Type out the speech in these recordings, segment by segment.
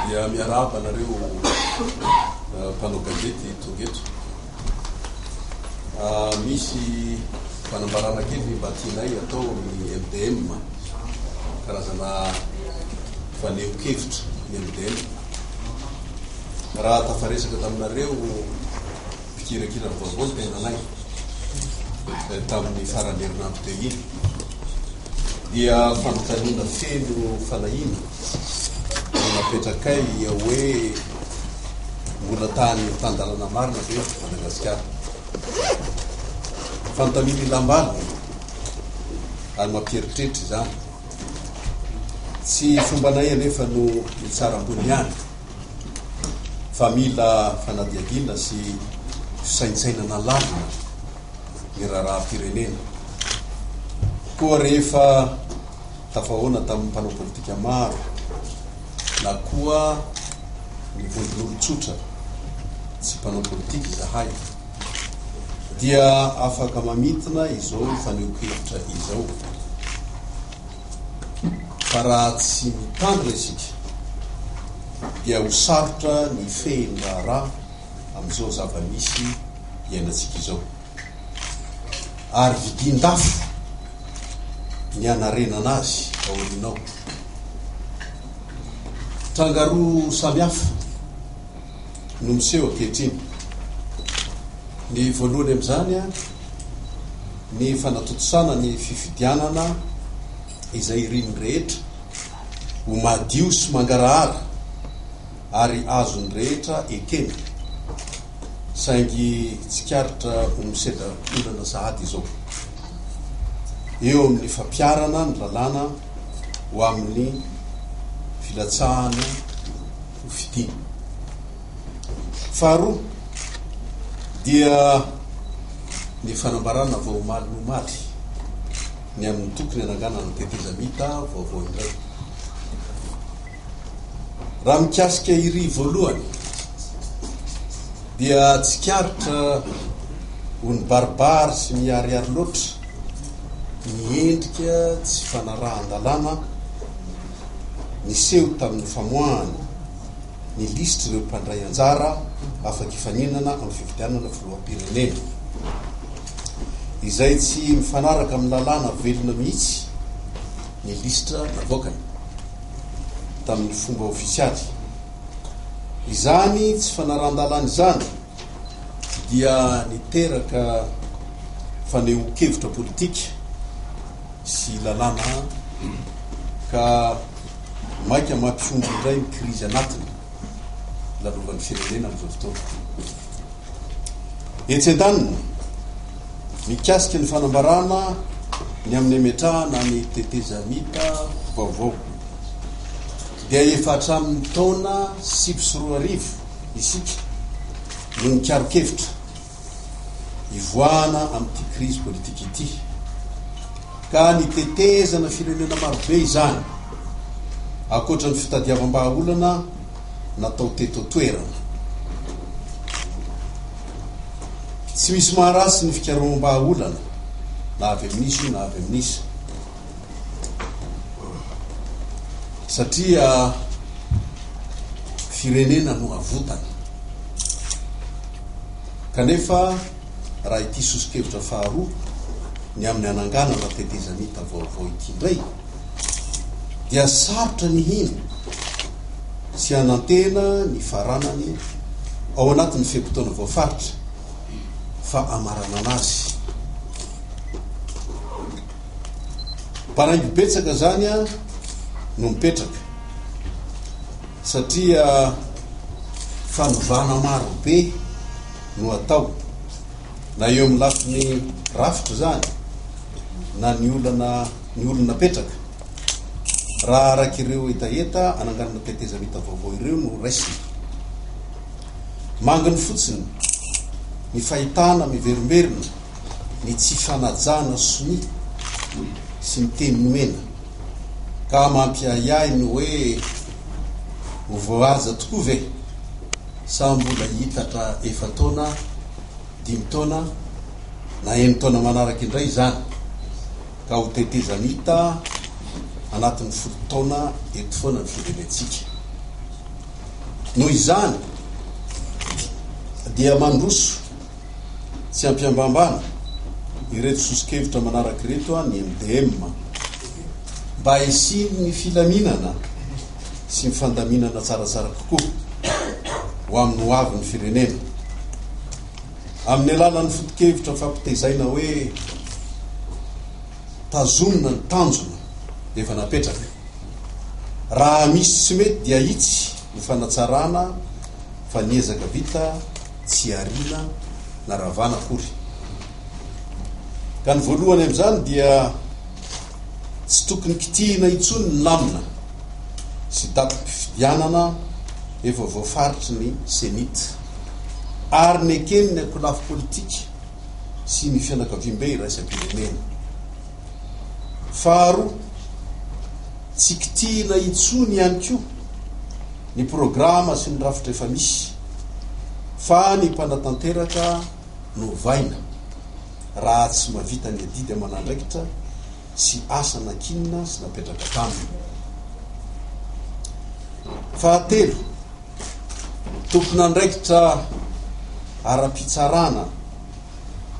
Dia miarahaba anareo mpanao gazety tonga eto. Misy fanambarana kely mba tianay atao amin'ny MDM, karazana fanehonkevitra ny MDM. Raha tafaresaka taminareo mpikirakira ny vaovao ny tenanay tamin'ny faran'ny herinandro teo iny. dia fanontaniana feno fanahiana no napetrakay hoe mbola tany tan-dalana marina ve Madagasikara? Fanontaniana ilam-bady ary mampieritreritra izany. Tsy fombanay anefa no mitsara ambony ihany fa mila fanadihadiana sy fisaintsainana lavina. ny raharaham-pirenena. Koa rehefa tafahoana tamin'ny mpanao politika maro na koa ny vondron'olon-tsotra tsy mpanao politika izahay dia afaka mamintina izao fanehoan-kevitra izao fa raha tsy mitandrina isika dia ho sarotra ny fehin'ny raharaha amin'izao zava-misy iainantsika izao. Ary vidian-dafo ny hanarenana azy aoriana ao. Tranga roa samy hafa no miseho ankehitriny. Ny voalohany amin'izany ny fanatontosana ny fifidianana izay irin'ny rehetra ho madio sy mangarahara. ary azon'ny rehetra ekena, saingy tsikaritra ho misedra-olana sahady izao, eo amin'ny fampiharana ny lalàna ho amin'ny filatsahana ho fitia. Faharoa dia ny fanambarana vao omaly ny omaly, ny amin'ny tokony hananganana tetezamita vaovao indray. Raha mikasika iry voalohany dia tsikaritra ho nibaribary sy niharihary loatra ny endrika tsy fanarahan-dalàna niseho tamin'ny famoahana ny lisitr'ireo mpandray anjara afaka hifaninana amin'ny fifidianana filoham-pirenena izay tsy mifanaraka amin'ny lalàna velona mihitsy ny lisitra navoakany. tamin'ny fomba ofisialy. Izany tsy fanarahan-dalàna izany dia niteraka fanehoan-kevitra politika sy lalàna ka maika mampihombo indray ny krizy anatiny. lalovan'ny firenena amin'izao fotoana ity. Etsy an-daniny, mikasika ny fanambarana ny amin'ny hametrahana ny tetezamita vaovao dia efa hatramin'ny taona sivy sy roa arivo isika no nikaron-kevitra hivoahana amin'ity krizy politika ity, ka ny tetezana firenena marobe izany, ankoatra ny fitadiavam-bahaolana natao teto an-toerana. Tsy misy maharatsy ny fikaroham-bahaolana, na avy amin'iza io na avy amin'iza. Satria firenena no avotany. Kanefa raha ity soso-kevitra faharoa ny amin'ny hananganana tetezamita vaovao ity indray dia sarotra ny hino sy hanantena ny faranany ao anatin'ny fe-potoana voafaritra fa amaranana azy. Paraingo betsaka izany no mipetraka satria fanovana maro be no atao na eo amin'ny lafiny rafitra izany na ny olana ny olona napetraka. Raha araka ireo hetaheta ananganana tetezamita vaovao ireo no raisina. Manginy fotsiny ny fahitana miverimberina ny tsy fanajana sonia sy ny teny nomena ka mampiahiahy ny hoe ho voahaja tokoa ve sa mbola hiitatra efa-taona, dimy taona na enin-taona manaraka indray izany ka ho tetezamita anatin'ny folo taona eto foana ny firenentsika. Noho izany dia mandroso. Tsy ampiambambana ireto soso-kevitra manaraka ireto ny MDM, Mba hisian'ny filaminana sy ny fandaminana tsaratsara kokoa ho amin'ny ho avin'ny firenena, amin'ny alalan'ny foto-kevitra fampitezaina hoe Tazonina ny tanjona efa napetraka. Raha misy tsy mety dia itsy ny fanatsarana fa ny ezaka vita. Tsy ariana na ravana akory. Ka ny voalohany amin'izany dia tsy tokony kitihina intsony ny lamina sy datim-pifidianana efa voafaritry ny Cenit ary neken'ny ankolafy politika sy ny fianakaviambe iraisam-pirenena. Faharoa, tsy kitihina intsony ihany koa ny programa sy ny rafitra efa misy. fa ny mpanatanteraka no ovaina raha tsy mavita ny adidy aman'andraikitra sy asa nankinina sy napetraka taminy. Fahatelo, tompon'andraikitra ara-pitsarana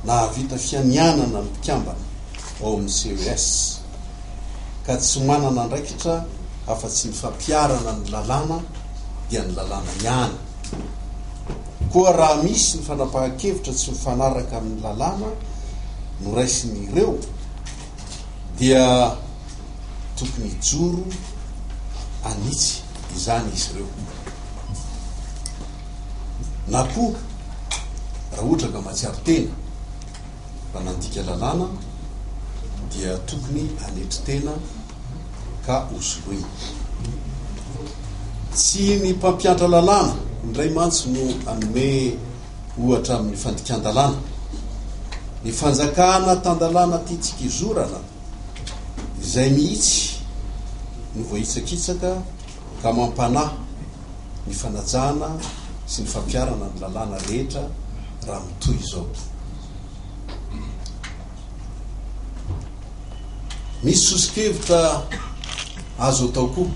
nahavita fianianana ny mpikambana ao amin'ny CES ka tsy manana andraikitra afa-tsy ny fampiharana ny lalàna dia ny lalàna ihany. Koa raha misy ny fanapahan-kevitra tsy mifanaraka amin'ny lalàna noraisin'ireo dia tokony hijoro an'itsy. izany izy ireo. Na koa raha ohatra ka mahatsiaro tena fa nandika lalàna dia tokony hanetry tena ka hosoloina. Tsy ny mpampiantra lalàna indray mantsy no hanome ohatra amin'ny fandikan-dalàna. Ny fanjakana tan-dalàna tiantsika izorana Izay mihitsy no voahitsakitsaka ka mampanahy ny fanajana sy ny fampiharana ny lalàna rehetra raha mitohy izao. Misy soso-kevitra azo atao koa.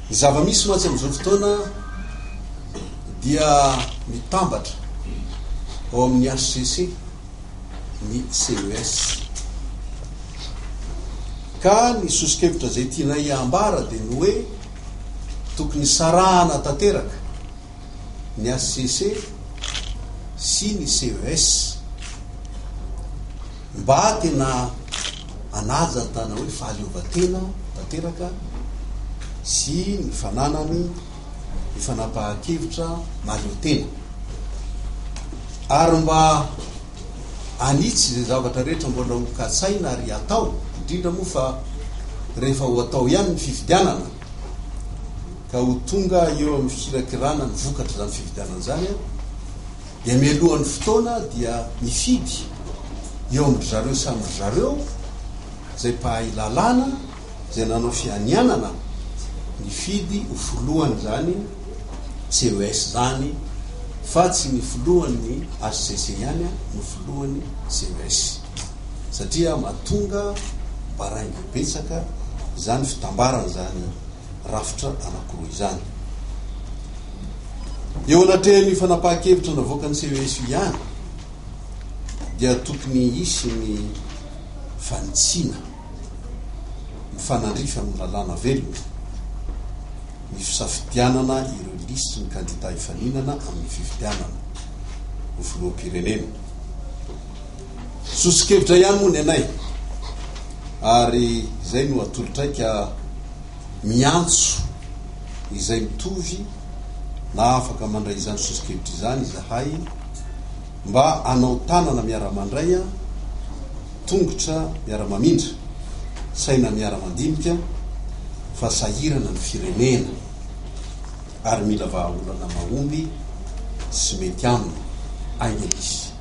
Ny zava-misy mantsy amin'izao fotoana dia mitambatra ao amin'ny hcc. ny CES. Ka ny soso-kevitra izay tianay ambara dia ny hoe tokony hisarahana tanteraka ny HCC sy ny CES mba tena hanaja ny tana hoe fahaleovantena tanteraka sy ny fananany hifanapahan-kevitra mahaleo tena ary mba hanitsy izay zavatra rehetra mbola ho katsaina ary hatao, indrindra moa fa rehefa ho atao ihany ny fifidianana ka ho tonga eo amin'ny fikirakirana ny vokatra izany fifidianana izany dia mialohan'ny fotoana dia mifidy eo amin-dry zareo samy ry zareo izay mpahay lalàna izay nanao fianianana nifidy ho filohan'izany CES izany fa tsy ny filohan'ny HCC ihany no filohan'ny CES satria mahatonga baraingo betsaka izany fitambarana izany rafitra anankiroa izany. Eo anatrehan'io fanapahan-kevitra navoakan'ny CES io ihany dia tokony hisy ny fanitsiana. mifanandrify amin'ny lalàna velona ny fisafidianana ireo lisitry ny kandidà hifaninana amin'ny fifidianana ho filoham-pirenena. Sosokevitra ihany moa ny anay ary izay no atolotraika miantso izay mitovy na afaka mandray izany sosokevitra izany izahay Mba hanao tanana miara-mandray an, tongotra miara-mamindra, saina miara-mandinika fa sahirana ny firenena ary mila vahaolana mahomby sy mety aminy ainga izy.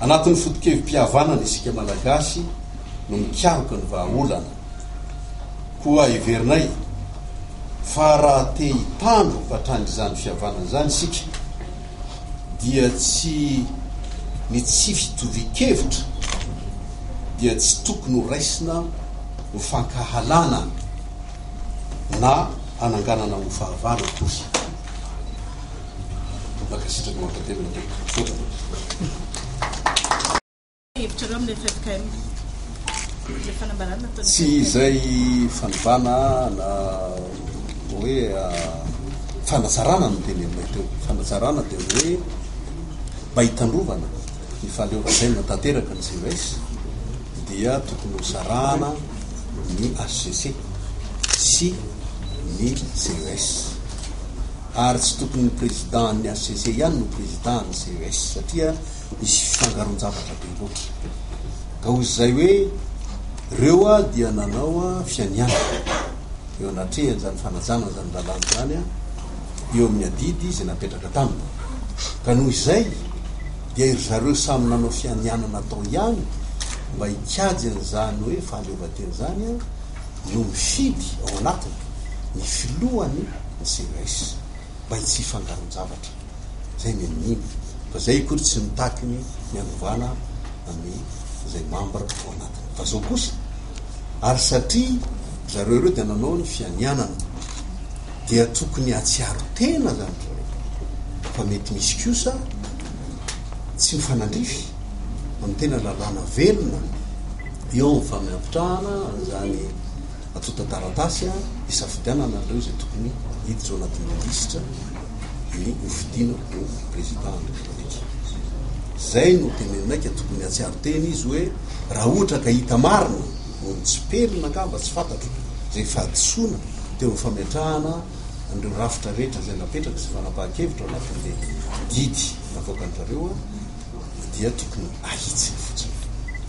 Anatin'ny fotokevi-pihavanana isika Malagasy no mikaroka ny vahaolana, koa heverinay fa raha te hitandro hatrany izany fihavanana izany isika, dia tsy ny tsy fitovian-kevitra dia tsy tokony ho raisina ho fankahalana na hananganana ho fahavalo akory. Mankasitraka mankatelina tompoko. Tsy izay fanovana na hoe fanazarana no dieny aminay teo. Fanazarana dia ny hoe mba hitandrovana ny fahaleovantenana tanteraka ny GES dia tokony ho sarahana ny HCC sy ny GES. Ary tsy tokony ny président an'ny HCC ihany no président an'ny GES satria Nisy fifangaroan-javatra be loatra. Ka hoy izay hoe, Ireo dia nanao fianiana eo anatrehan'izany fanajana izany lalàna izany eo amin'ny adidy izay napetraka taminy. Ka noho izay dia ry zareo samy nanao fianiana natao ihany mba hikajy an'izany hoe fahaleovantena izany no mifidy ao anatiny ny filohany ny CES. mba tsy hifangaron-javatra. Zay ny an'iny. Fa zay akory tsy mitaky ny hanovana ny zay membre ao anatiny. Fa zao kosa, ary satria zareo ireo dia nanao ny fianianana, dia tokony hatsiaro tena zany ry zareo fa mety misy kosa tsy mifanandrify amin'ny tena lalàna velona eo amin'ny fampitrahana an'izany Antontan-taratasy hisafidianana an'ireo izay tokony hiditra ao anatin'ny lisitra ny hofidiana ho Président de la République. Izay no tenenina ka tokony hatsiaro tena izy hoe raha ohatra ka hita marina no nitsipelina angamba tsy fantatro izay fahadisoana teo amin'ny fametrahana an'ireo rafitra rehetra izay napetraka sy fanapahan-kevitra ao anatin'ilay didy navoakan-dry zareo Ny dia tokony ahitsiny fotsiny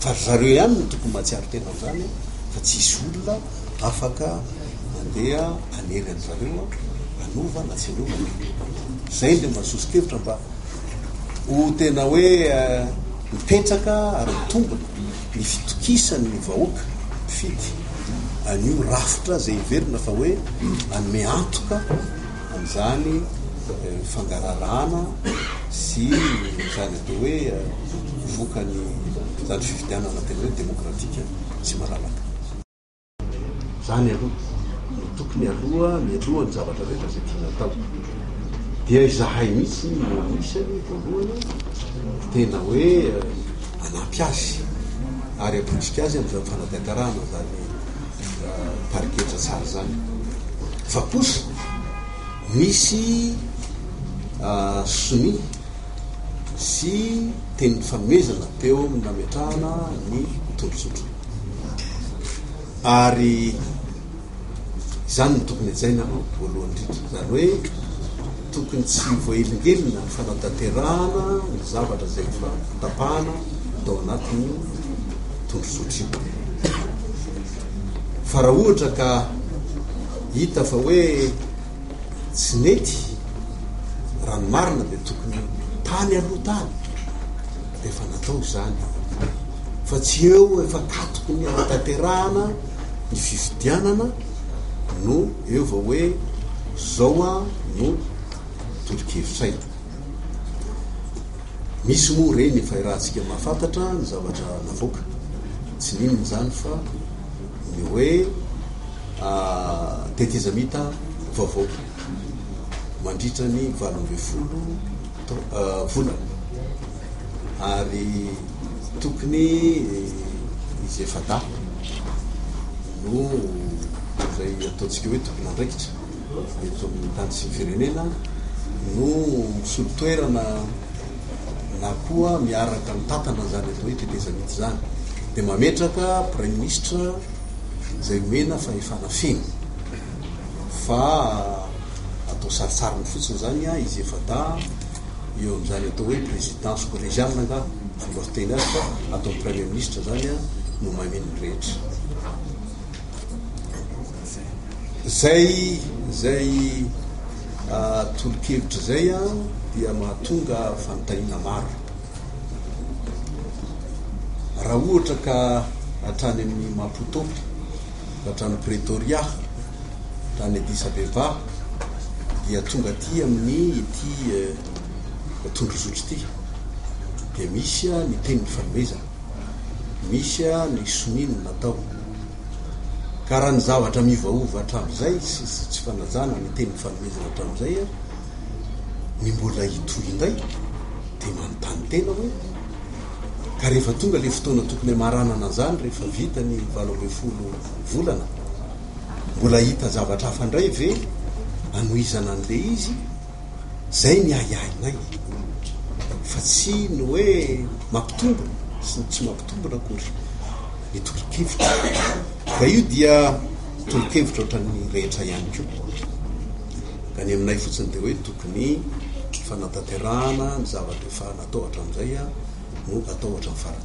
fa ry zareo ihany no tokony mahatsiaro tena an'izany fa tsy hisy olona afaka mandeha hanery an'zareo hanova na tsy hanova ny filohampirenena. Izay no mba sosokevitra mba ho tena hoe mipetraka ary mitombina ny fitokisan'ny vahoaka mpifidy an'io rafitra izay heverina fa hoe manome antoka an'izany fangaraharaana sy izany atao hoe vokany izany fifidianana tena hoe demokratika sy malalaka. Izany aloha no tokony aloha mialohan'ny zavatra rehetra izay tiana atao. Dia izahay mihitsy no anisany voalohany tena hoe hanampy azy ary hapotsika azy amin'izany fanadaikarahana izany. pariketra tsara zany fa kosa misy sonia sy teny fanomezana teo amin'ny nametrahana ny tondrozotra ary izany ny tokony hajaina aloha voalohany indrindra zany hoe Tokony tsy ho voahelingelina ny fanatanterahana ny zavatra izay efa notapahana tao anatin'io tondrozotra io. Fa raha ohatra ka hita fa hoe tsy nety, raha ny marina dia tokony tany aloha tany dia efa natao izany. Fa tsy eo efa katoky ny hanatanterahana ny fifidianana. no eo vao hoe zao an no tolo-kevitray. Misy moa reny efa irahantsika mahafantatra ny zavatra navoaka. Tsy ninona izany fa ny hoe tetezamita vaovao mandritra ny valo ambin'ny folo volana ary tokony izay fada noho izay ataontsika hoe tompon'andraikitra eto amin'ny tany sy ny firenena no misolo toerana na koa miaraka mitantana izany atao hoe traité Zamitz izany dia mametraka praiminisitra izay nomena fahefana feno fa atao saritsarin'ny fotsiny izany izy efa-dahy eo amin'izany atao hoe présidence collégiale angaha ny fomba fiteny azy fa ataon'ny premier ministre izany a no maneho ny rehetra zay zay tolokevitra zay a dia mahatonga fanontaniana maro raha ohatra ka hatrany amin'ny maputo ka hatrany pretoria tany Addis Abeba dia tonga aty amin'ny ity tondrozotro ity dia misy ny tenin'ny fanomezana, misy ny sonia ny natao. Ka raha ny zavatra miovaova hatramin'izay sy tsy fanajana ny tenin'ny fanomezana hatramin'izay ny mbola hitohy indray dia manontany tena hoe ka rehefa tonga ilay fotoana tokony hamaranana an'izany rehefa vita ny valo ambin'ny folo volana Mbola hita zavatra hafa indray ve hanohizana an'ilay izy? Izay ny ahiahinay fa tsy ny hoe mampitombo sy ny tsy mampitombona akory ny tolo-kevitra. Ka io dia tolo-kevitra ohatran'ny rehetra ihany koa. Ka ny aminay fotsiny dia hoe tokony fanatanterahana ny zavatra efa natao hatramin'izay no atao hatramin'ny farany.